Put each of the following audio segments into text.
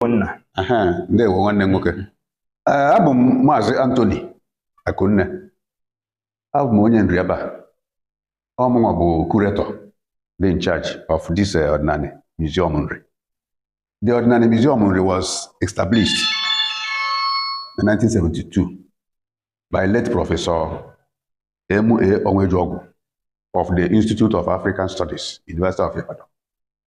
Akunne Aha, ndewo nwanne m nwoke Ee, abụ m maazị Anthony Akunne abụ m onye Nri ebe a ọ mụnwa bụ curator dị in charge of this eh, Ọdịnanị museum nri the Ọdịnanị museum nri was established in 1972 by late professor M.A. Onwuejeogwu of the Institute of African Studies, University of Ibadan.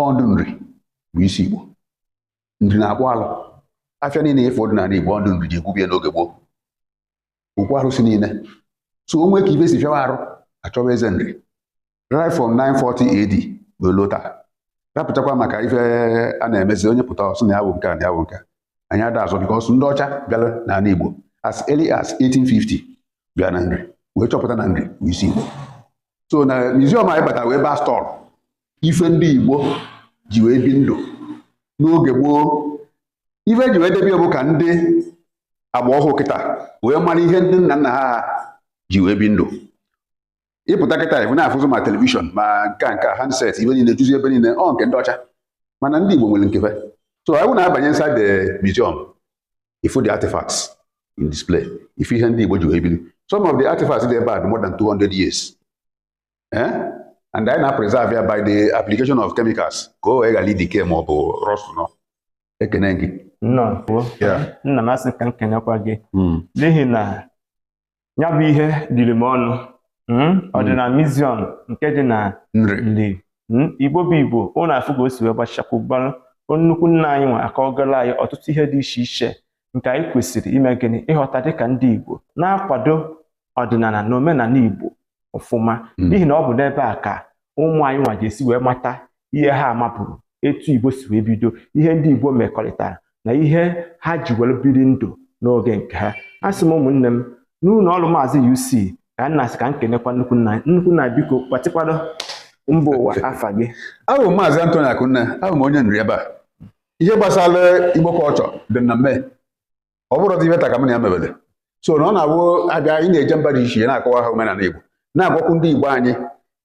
ọ ndị Nri bụ isi Igbo nri na-akpụ alụ afịa niile ife ọdịnala Igbo ọ ndị Nri ji ekwubie n'oge gboo okwu arụsị niile so o nwe ka ife si fịawa arụ a chọwa eze nri right from 940 AD wee luta rapụtakwa maka ife a na-emezi onye pụta ọ sị na ya bụ nke a na ya bụ nke a anyị ada azọ because ndị ọcha bịara n'ala Igbo as early as 1850 bịa na nri wee chọpụta na nri bụ isi Igbo so na museum anyị batara bụ ebe a stọọlụ ife ndị Igbo ji wee bi ndụ n'oge gboo ife e ji wee debe ya bụ ka ndị agba ọhụụ kịta wee mara ihe ndị nna nna ha ji wee bi ndụ ị pụta kịta ife a na-afụzị ma telivishọn ma nke a nke a handset ife niile juzi ebe niile ọ nke ndị ọcha mana ndị Igbo nwere nke fa so anyị na-abanye inside the museum ị fụ the artifacts in display ife ihe ndị Igbo ji wee bili some of the artifacts dị ebe a dị more than 200 years eh? and anyị na-preserve ya by the application of chemicals ka o wee ghara i-decay ma ọ bụ rust nọ ekene gị nna m asị ka m kenekwa gị hmm. n'ihi na ya bụ ihe dịrị m ọṅụ hmm? Ọdịnanị hmm. museum nke dị na nri igbo bụ igbo unu afụ ka o si wee gbachakwubarụ nnukwu nna anyị nwa akọgolụ anyị ọtụtụ ihe dị iche iche nke anyị kwesịrị ime gịnị ịghọta dịka ndị igbo na-akwado ọdịnala na omenala igbo ọfụma Mm. n'ihi na ọ bụ n'ebe a ka ụmụ anyị nwa ga-esi wee mata ihe ha amaburo etu igbo si wee bido ihe ndị igbo mekọrịtara na ihe ha ji were biri ndụ n'oge nke ha a sị m ụmụnne m n'ụlọ ọrụ maazị UC ka nna sị ka m kenekwa nnukwu nna nnukwu nna biko gbatịkwado mba ụwa afa gị abụ m maazị Anthony Akunne abụ m onye nri ebe a ihe gbasara igbo culture dị m na mme ọ bụrọdị ife taa ka m na ya mebele so na ọ na-abụ a bịa anyị na-eje mba dị iche iche na-akọwa ha omenala Igbo na-agwakwu ndị Igbo anyị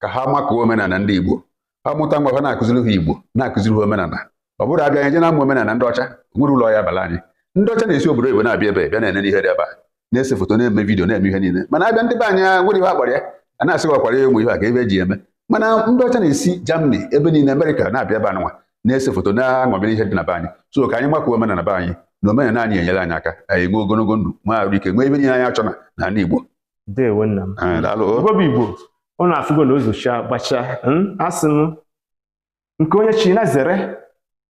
ka ha makụọ omenala ndị Igbo ha mụta nwa ha na-akụziri ha Igbo na-akụziri ha omenala ọ bụrọ a bịa anyị je na-amụ omenala ndị ọcha enwerọ ulu ọ ya-abalị anyị ndị ọcha na-esi obodo oyibo na-abịa ebe a bịa na-ene ihe dị ebe a na-ese foto na-eme vidiyo na-eme ihe niile mana a bịa ndị be anyị o nwerọ ihe a kpọrọ ya a na-asị gwakwara ya ụmụ ihe a kee ife e ji eme mana ndị ọcha na-esi Germany ebe niile Amerịka na-abịa ebe anụnwa na-ese foto na-aṅọmịrị ihe dị na be anyị so ka anyị makụọ omenala be anyị na omenala anyị enyere anyị aka anyị nwee ogologo ndụ nwee arụ ike nwee ihe niile anyị achọ na n'ala Igbo ndewo nna m Ee, daalụ o. Igbo bụ Igbo ụnụ afụgo na o zochaa gbachaa mm, asị m nke onye chi ya zere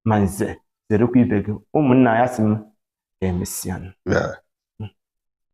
ma nze zerekwa ibe gị ụmụnna ya sị m ka emesịa Yeah.